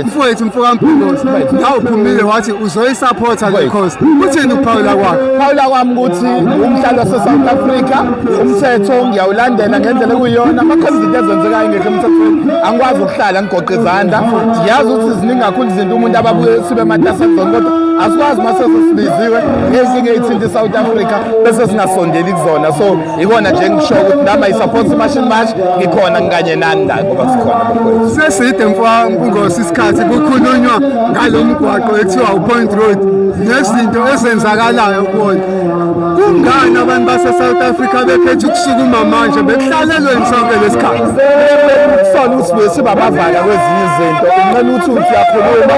mfowethu mfokamphilosi ngawuphumile wathi uzoyisapotha le coast uthini ukuphawula kwakhe phawula kwami ukuthi umdlalo wasesouth africa umthetho ngiyawulandela ngendlela ekuyiyona amakhona izinto ezenzekayo ngekho emthethweni angikwazi ukuhlala ngigoqe izandla ngiyazi ukuthi ziningi kakhulu izinto umuntu ababuye sibe matasezon kodwa asikwazi uma sesesibiziwe ezinye iy'thinta isouth africa bese singasondeli kuzona so Ikona nje ngisho ukuthi nami I support Machine March ngikhona ngikanye nani la ngoba sikhona mfowethu. Seside mfowethu kungosi isikhathi kukhulunywa ngalomgwaqo ekuthiwa uPoint Road nezinto ezenzakalayo kuwona. Kungani abantu base South Africa bekhetha ukusukuma manje bekuhlalelweni sonke lesikhathi? Sola ukuthi besibabavana kwezinye izinto unqena ukuthi uthi uyakhuluma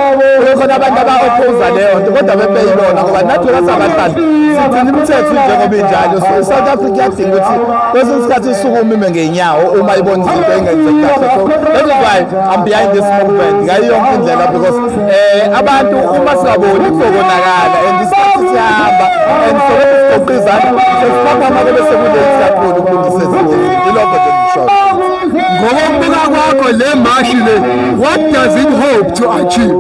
kukhona abantu aba-opposa leyo nto kodwa bebeyilona ngoba nathi ngasabahlali sigcina imithetho njengoba injalo so i-south africa iyadinga ukuthi kwesinye isikhathi isuke umime ngey'nyawo uma ibona izinto engenzeki kahle so that is why i'm behind this movement ngayo yonke indlela because um abantu uma singaboni kuzokonakala and isikhathi siyahamba and solokhu sigoqa izandla sesiphapha amake bese kuleli kakhulu ukulungisa ezingozi ilokho nje ngishoyo ngokokubuka kwakho le mashi le what does it hope to achieve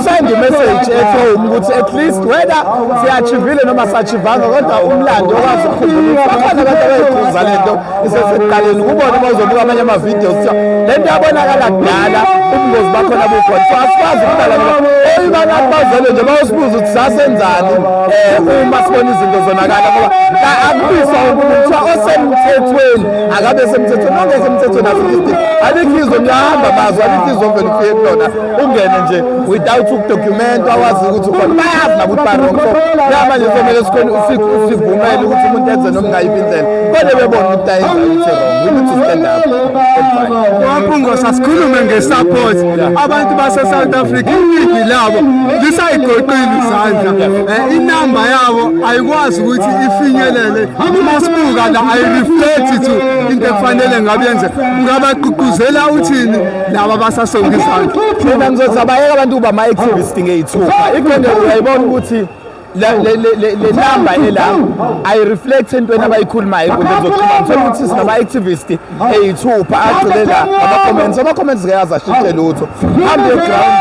send a message at home ukuthi at least whether siyachivile noma sachivanga kodwa umlando okwazi ukukhumbula bakhona abantu abayikhuza le nto isesekuqaleni kubona bazobuka amanye amavidiyo kuthiwa le nto yabonakala kudala ubungozi bakhona bukhona so asikwazi ukudala ngoba oyibana bazele nje bayosibuza ukuthi sasenzani um uma sibona izinto zonakala ngoba akubiswa umuntu kuthiwa osemthethweni akabe semthethweni ongekho emthethweni asikho isidingo alikho izwe niyahamba mazwe alikho izwe ovele ufike kulona ungene nje without ukudocumentwa wazi ukuthi ukhona bayazi nakuthi barong so kuyamanje somele sivumele ukuthi umuntu enze noma ngayiphi indlela kodwa bebona ukuthi ayenza ukuthi wrong we need to stand up waphungo sasikhulume nge-support abantu base-south africa iningi labo lisayigoqile izandla eh, inamba yabo ayikwazi ukuthi ifinyelele uma sibuka la ayireflect to into ekufanele ngabe yenze ngabagqugquzela uthini laba basasonga izandla mina ngizothi abayeka abantu uba ama-activist ngeyithupha ikhona uyayibona ukuthi le namba ela ayireflect entweni abayikhulumayo enkundleni zokuxhumana thola ukuthi sinama-activist eyithupha agcile la ama-comments ama-comments ke azashintshe lutho hambe eground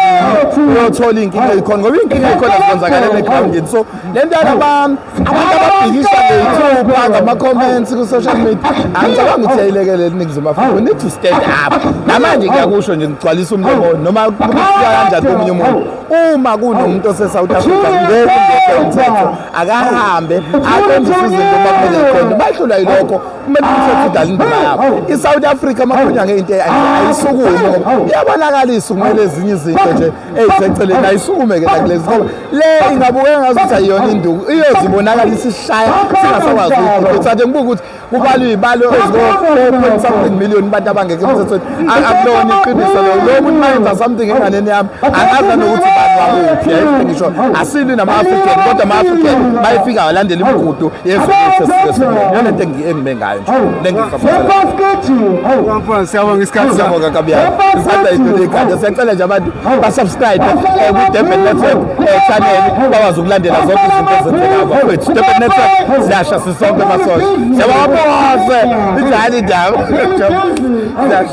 uyothola iy'nkinga eyikhona ngoba iy'nkinga eyikhona zikwenzakala egroundini so le nto yalaba abantu ababhikisha ngethubu angama-comments ku-social media angicabanga ukuthi yayilekelela iningizimu afrika we need to stand up namanje ngiyakusho nje ngigcwalisa umlomo noma kufika kanjani komunye umuntu uma kunomuntu osesouth africa ngeke ngeke umthetho akahambe aqondise izinto uma kumele iqonde bahlula yilokho kumele umthetho udala indima yakho i-south africa amakhonyanga into ayisukume ngoba iyabonakalisa ukumele ezinye izinto nje eyiseceleni ayisukume ke nakulezi ngoba le ingabukeka ngazi ukuthi ayiyona induku iyozibonakala isishaya singasakwazi ukuthi uthathe ngibuke ukuthi kubalwa iy'balo eziko-point something million abantu abangekho emthethweni akulona iqiniso lo lo muntu mayenza something enganeni yami angaza nokuthi bantu bakuphi yayifike ngisho asilwi nama-african kodwa ama-african bayefika walandela imigudu yezwe lethu esiyona lento engime ngayo nje lengisamfana siyabonga isikhathi sakho kakabiyana sithanda into lekhanda siyacela nje abantu basubscribe eh, kwi-durban network eh, channel bakwazi ukulandela zonke izinto ezenzeka bakwethu durban network siyasha sisonke masosha siyababose injani indaba